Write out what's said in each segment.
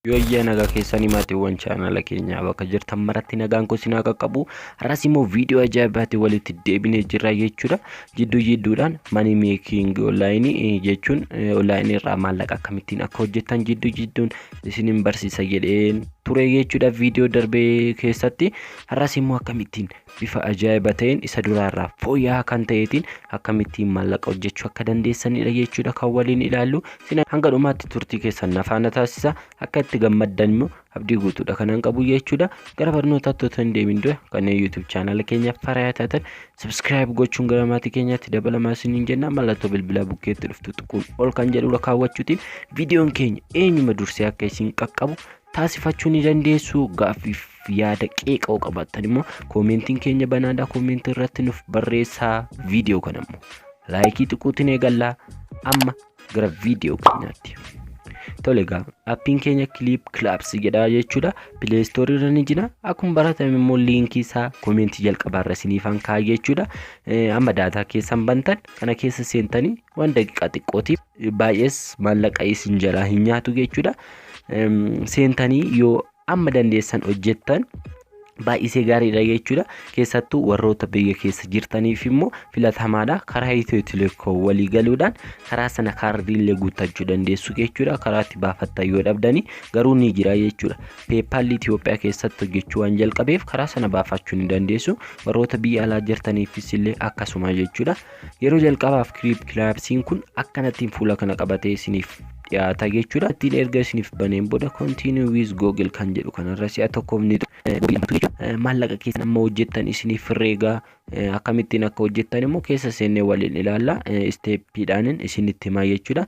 Yoyyaa nagaa keessanii maatiiwwan chaanala keenyaa bakka jirtan maratti nagaan kun sinaa qaqqabu har'as immoo viidiyoo ajaa'ibaatti walitti deebinee jirra jechuudha jidduu jidduudhaan manii meekiing onlaayinii jechuun onlaayinii irraa maallaqa akkamittiin akka hojjetan jidduu jidduun isinin barsiisa jedheen ture jechuudha viidiyoo darbee keessatti har'as immoo akkamittiin bifa ajaa'iba ta'een isa duraarraa fooyya'aa kan ta'eetiin akkamittiin maallaqa hojjechuu akka dandeessanidha jechuudha kan waliin ilaallu isin hanga dhumaatti turtii keessan nafaana taasisa akka itti gammaddan immoo abdii guutuudha kanan qabu jechuudha gara barnootaatti otoo hin deemin dura kanneen yuutuub chaanala keenyaaf farayaa taatan sabskiraayib gochuun gara maatii keenyaatti dabalamaa isiniin jenna mallattoo bilbilaa bukkeetti dhuftu tuquun ol kan jedhudha kaawwachuutiin viidiyoon keenya eenyuma dursee akka isin qaqqabu taasifachuu ni dandeessu gaaffiif yaada qeeqa yoo qabaattan immoo koomentiin keenya banaadha koomentii irratti nuuf barreessaa viidiyoo kana immoo laayikii xiquutiin eegallaa amma gara viidiyoo keenyaatti. Tole egaa appiin keenya kiliip kilaabs jedha jechuudha pileestoorii irra ni jira akkuma baratame immoo liinkii isaa koomentii jalqabaa irra isiniifan kaa'e jechuudha amma daataa keessan bantan kana keessa seentanii waan daqiiqaa xiqqootiif baay'ees maallaqa isin jalaa hin nyaatu jechuudha. Seentanii yoo amma dandeessan hojjettan baay'isee gaariidha jechuudha. Keessattuu warroota biyya keessa jirtaniif immoo filatamaadha. Karaa Itiyoo Telekoom walii galuudhaan karaa sana kaardiillee guuttachuu dandeessu jechuudha. Karaa itti baafattan yoo dhabdanii garuu ni jira jechuudha. Peepaalli Itiyoophiyaa keessatti hojjechuu waan jalqabeef karaa sana baafachuu ni dandeessu. Warroota biyya alaa jirtaniifis illee akkasuma jechuudha. Yeroo jalqabaaf Creep Clipsiin kun akkanattiin fuula kana qabatee isiniif dhiyaata jechuudha. Ittiin erga isiniif baneen booda Continue with Google kan jedhu kanarra si'a tokkoof ni maallaqa keessan amma hojjettan isiniif herreegaa akkamittiin akka hojjettan immoo keessa seennee waliin ilaalla isteeppiidhaanin isinitti himaa jechuudha.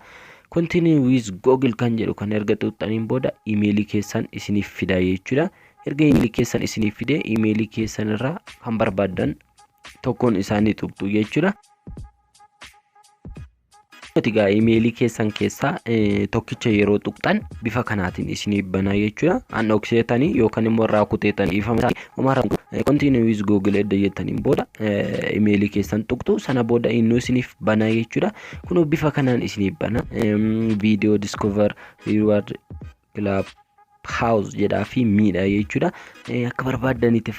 Continue with Google kan jedhu kan erga xuuxxaniin booda imeelii keessan isiniif fida jechuudha. Erga imeelii keessan isiniif fidee imeelii keessan irraa kan barbaaddan tokkoon isaa ni tuqxu jechuudha. Egaa imeelii keessan keessaa tokkicha yeroo tuqxan bifa kanaatiin isiniif banaa jechuudha. An dhokseetanii yookaan immoo irraa kuteetanii ifama isaa homaa rakkoo continue with google edda jettaniin booda imeelii keessan tuqxu sana booda innuu isiniif banaa jechuudha. Kunoo bifa kanaan isiniif bana viidiyoo discover reward club house jedhaa fi miidha jechuudha akka barbaaddanitti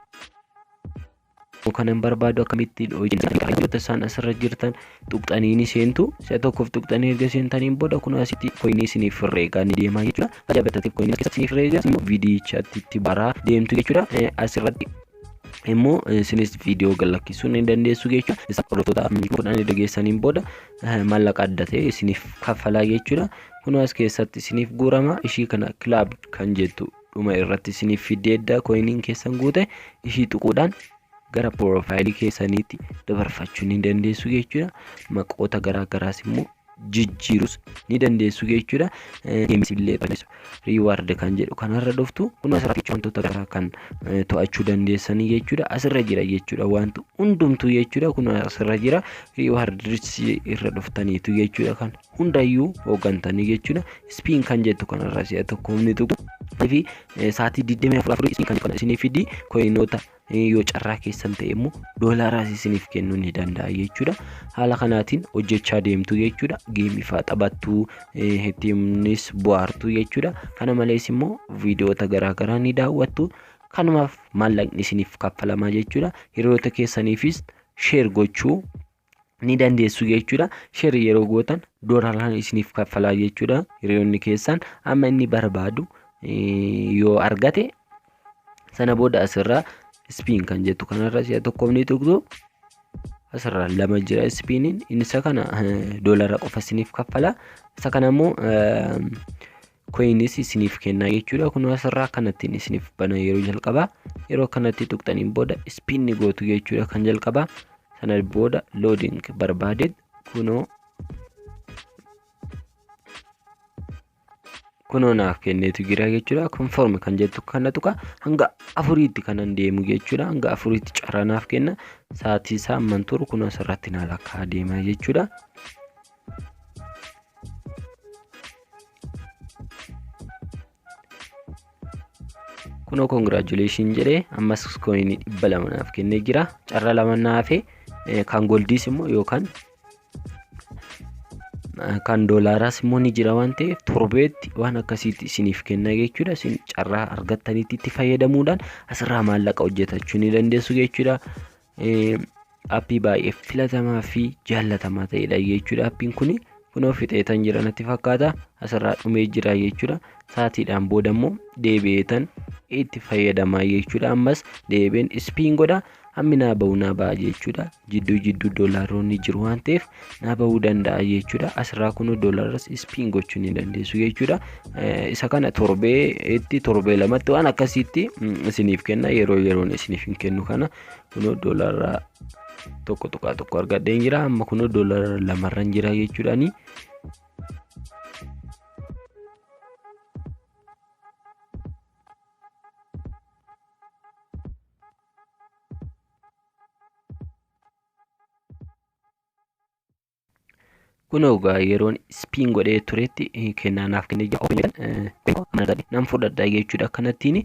kanan barbaadu akkamittiin hojjetu isaan asirra jirtan tuqxanii ni seentu si'a tokkoof tuqxanii erga seentaniin booda kun asitti koinii isiniif herreegaa ni deemaa jechuudha tajaajila bitataniif koinii keessa isiniif herreegaa immoo viidiyichatti itti baraa deemtu jechuudha asirratti immoo isinis viidiyoo gad lakkisuu ni dandeessu jechuudha isa hordoftoota kudhan erga geessaniin booda mallaqa adda ta'e isiniif kaffalaa jechuudha. Kunoo as keessatti isiniif guurama ishii kana club kan jettu dhuma irratti isiniif fiddee edda koyiniin keessan guute ishii tuquudhaan gara piroofaayilii keessaniitti dabarfachuu ni dandeessu jechuudha. Maqoota garaa garaas immoo jijjiirus ni dandeessu jechuudha. Games illee balleessu. reward kan jedhu kanarra dhuftu kun asirratti jechuun wantoota garaa kan eh, to'achuu dandeessanii jechuudha asirra jira jechuudha wanti hundumtuu jechuudha kun asirra jira reward irra dhuftaniitu jechuudha kan hundayyuu hooggantanii jechuudha spiin kan jettu kanarra si'a tokko humni tuqu fi eh, sa'aatii 24 spiin kan jedhu kana isinii fidi koyinoota yoo carraa keessan ta'e immoo doolaaraas isiniif kennuu ni danda'a jechuudha. Haala kanaatiin hojjechaa deemtu jechuudha. Geemii fa'aa taphattu ittiinis bohaartu jechuudha. Kana malees immoo viidiyoota garaagaraa ni daawwattu. Kanumaaf maallaqni isiniif kaffalamaa jechuudha. Hiriyoota keessaniifis sheer gochuu ni dandeessu jechuudha. Sheri yeroo gootan doolaaraan isiniif kaffalaa jechuudha. Hiriyoonni keessan amma inni barbaadu yoo argate sana booda asirraa ispiin kan jettu kanarra si'a tokkoof ni tuqxu. Asirraa lama jira ispiiniin inni isa kana doolaara qofa isiniif kaffala. Isa kana immoo coins isiniif kennaa jechuudha kunoo asirraa kanattiin isiniif bana yeroo jalqabaa yeroo kanatti tuqxaniin booda spin ni gootu jechuudha kan jalqabaa sana booda loading barbaaded kunoo kunoo naaf kenneetu jira jechuudha conform kan jettu kana tuqa hanga afuriitti kanan deemu jechuudha hanga afuriitti carraa naaf kenna sa'aatii isaa amman turu kunoo asirratti naa lakkaa deema jechuudha. kunoo congratulation jedhee ammas koinii dhibba lama naaf kennee jira carra lama naafe kan goldiis immoo yookaan kan doolaaraas immoo ni jira waan ta'eef torbeetti waan akkasiitti isiniif kenna jechuudha isin carraa argattanitti itti fayyadamuudhaan asirraa maallaqa hojjetachuu ni dandeessu jechuudha Appii baay'ee filatamaa fi jaallatamaa ta'edha jechuudha. Appiin kun kunoo fixeetan jira natti fakkaata. Asirraa dhumee jira jechuudha. Saatiidhaan booda immoo deebi'eetan itti fayyadamaa jechuudha. Ammas deebi'een ispiin godha. Hammi naa ba'u naa ba'a jechuudha. Jidduu jidduu doolaarroonni jiru waan ta'eef naa bahuu danda'a jechuudha asirraa kunoo doolaras ispiin gochuu ni dandeessu jechuudha isa kana torbee itti torbee lamatti waan akkasiitti isiniif kenna yeroo yeroon isiniif hin kennu kana kunoo doolaraa tokko tuqaa tokko argadheen jira amma kunoo doolara lamarran jira jechuudhaani Kunoo egaa yeroon spiin godhee turetti kennaa naaf kennee jira. Ofiin jedhan nan fudhadha jechuudha akkanattiin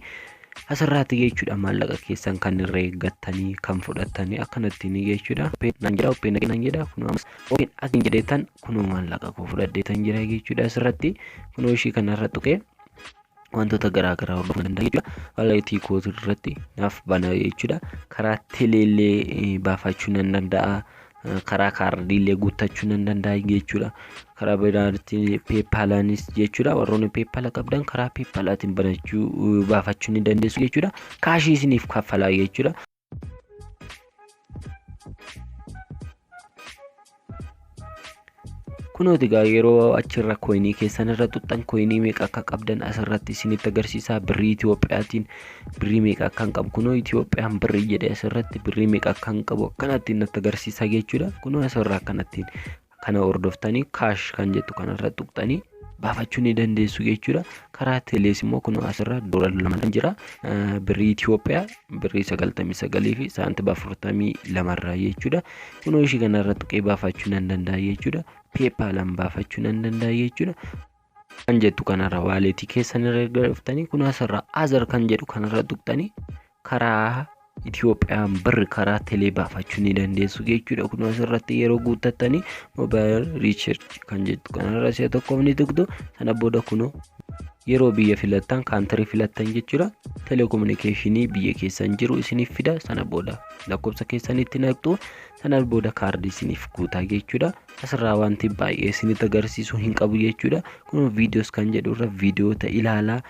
asirraatti jechuudha maallaqa keessan kan irra eeggattanii kan fudhattanii akkanattiin jechuudha. Nan jedha ofiin nan jedha kunoo ammas ofiin asin jedheetan kunoo maallaqa koo fudhadheetan jira jechuudha asirratti kunoo ishii kanarra tuqee wantoota garaa garaa hordofuu danda'a jechuudha. Walleetii koo irratti naaf bana jechuudha. Karaa teleellee eh, baafachuu nan danda'a. Eh, Karaa kaardiillee guuttachuu nan danda'a jechuudha. Karaa biraatti peepaalaanis jechuudha. Warroonni peepaala qabdan karaa peepaalaatiin banachuu eh, baafachuu ni dandeessu jechuudha. Kaashii isiniif kaffalaa jechuudha. Kunooti egaa yeroo achirra koyinii keessan irra xuxxan koyinii meeqa akka qabdan asirratti isinitti agarsiisaa birrii Itiyoophiyaatiin birrii meeqa akkan qabu kunoo Itiyoophiyaan birrii jedhe asirratti birrii meeqa akkan qabu akkanattiin natti agarsiisaa jechuudha kunoo asirraa akkanattiin Kana hordoftanii kaash kan jettu kanarra tuqxanii baafachuu ni dandeessu jechuudha. Karaa telees immoo kun asirra doolar lamadhaan jira. Birrii Itoophiyaa birrii sagaltamii sagalii fi saantiba afurtamii lamarraa jechuudha. Kunoo ishii kanarra tuqee baafachuu nan danda'a jechuudha. Peepaalaan baafachuu nan danda'a jechuudha. kan jettu kanarra waaleetii keessan irra erga dhuftanii kun asirra azar kan jedhu kanarra tuqxanii karaa Itiyoophiyaan birri karaa telee baafachuu ni dandeessu jechuudha. Kun asirratti yeroo guuttattanii moobaayil riichirchi kan jettu kanarra si'a tokkoof ni tuqxu sana booda kunoo yeroo biyya filattan kaantirii filattan jechuudha. Telekominikeeshinii biyya keessan jiru isiniif fida sana booda lakkoofsa keessanitti naqxu sana booda kaardii isiniif guutaa jechuudha. asirraa wanti baay'ee isinitti agarsiisuu hin qabu jechuudha. Kun viidiyoos kan jedhu irra viidiyoota ilaalaa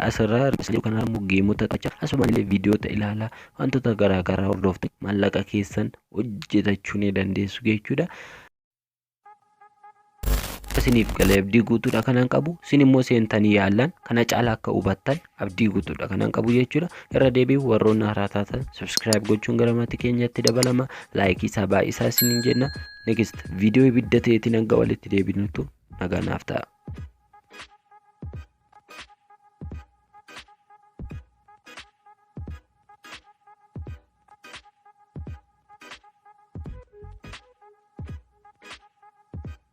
asirraa kanaa immoo geemota tacha asumaan illee viidiyoota ilaalaa wantoota garaa garaa hordoftu maallaqa keessan hojjetachuu ni dandeessu jechuudha. Isiniif galee abdii guutuudha kanan qabu isin immoo seentanii yaallan kana caala akka hubattan abdii guutuudha kanan qabu jechuudha irra deebiin warroonni haaraa taatan subscribe gochuun gara maatii keenyatti dabalama laayikii isaa baay'isaa isiniin jenna next viidiyoo ibidda ta'eetiin hanga walitti deebinutu nagaa naaf ta'a.